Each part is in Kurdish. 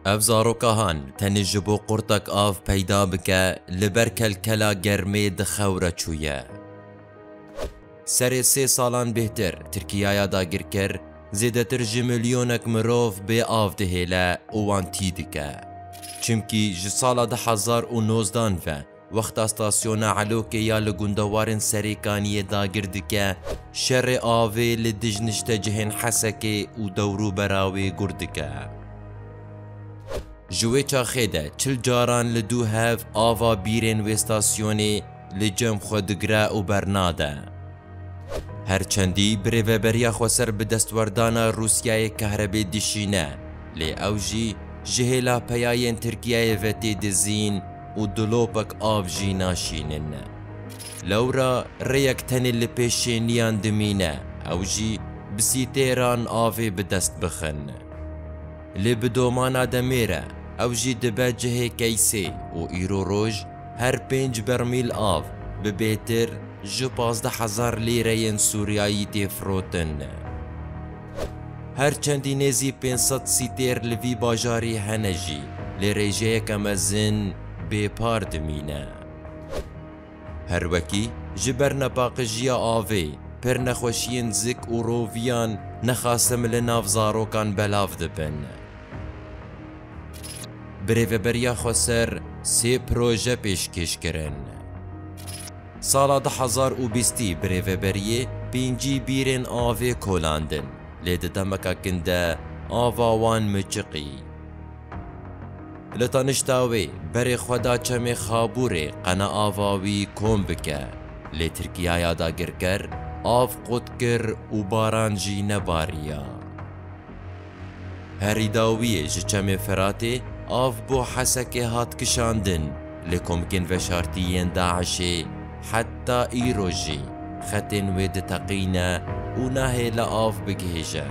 Ev zarokahan tenê ji bo qurtek av peyda bike li ber kelkela germê di xewre çûye. Serê sê salan bêhtir Tirkiyaya dagirker zêdetir ji milyonek mirov bê av dihêle û wan tî dike. Çimkî ji sala du hezar û nozdan ve, Wexta stasyona Elokê ya li gundewarên Serêkaniyê dagir dike, şerê avê li dij niştecihên Hesekê û dewrûbera wê gurd dike. Ji wê çaxê de çil caran li dû hev ava bîrên wê stasyonê li cem xwe digre û bernade. Her çendî birêveberiya xweser bi destwerdana Rûsyayê kehrebê dişîne, lê ew jî ji hêla peyayên Tirkiyeyê ve tê dizîn û dolopek av jî naşînin. Lewra rêyek tenê li pêş şêniyan dimîne, ew jî bi sîtêran avê bi dest bixin. Lê bi domana demê re ew jî dibe cihê keysê û îro roj her pênc bermîl av bi bêtir, Ji pazdeh hezar lîreyên Sûriyayî tê firotin. Her çendî nêzî pênc sed sîtêr li vî bajarî hene jî lê rêjeyeke mezin bê par dimîne. Her wekî ji ber nepaqijiya avê, pir nexweşiyên zik û roviyan nexasim li nav zarokan belav dibin. Bi Rêveberiya Xweser sê proje pêşkêş kirin. Sala du hezar û bîstî bi rêveberiyê pêncî bîrên avê kolandin, lê di demeke kin de ava wan miçiqî. Li tanişta wê berê xwe da çemê Xabûrê qena ava wî kom bike, lê Tirkiyaya dagirker av qut kir û baran jî nebariya. Herî dawiyê ji Çemê Firatê av bo Hesekê hat kişandin lê komkên veşartî yên DAIŞ'ê heta îro jî xetên wê diteqîne û nahêle av bigihîje.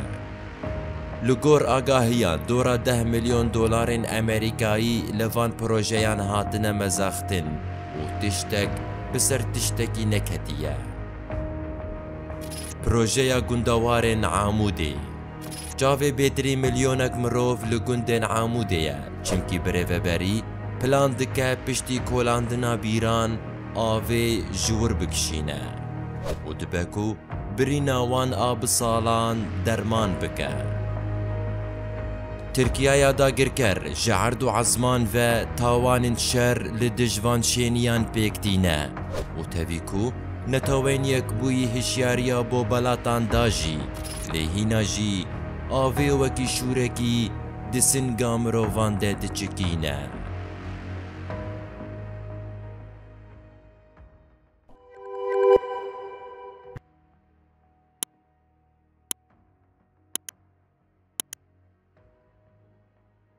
Li gor agahiyan dora deh milyon dolarên Amerîkayî li van projeyan hatine mezaxtin û tiştek bi ser tiştekî neketiye. Projeya gundewarên Amûdê. Çavê bêtirî milyonek mirov li gundên Amûdê ye, çimkî birêveberî plan dike piştî kolandina bîran avê ji wir bikişîne û dibe ku birîna wan a bi salan derman bike. Tirkiyaya dagirker ji erd û ezman ve tawanên şer li dij van şêniyan pêk tîne û tevî ku netewên Yekbûyî hişyariya bo belatan da jî, Lê hîna jî avê wekî şûrekî di singa mirovan de diçikîne.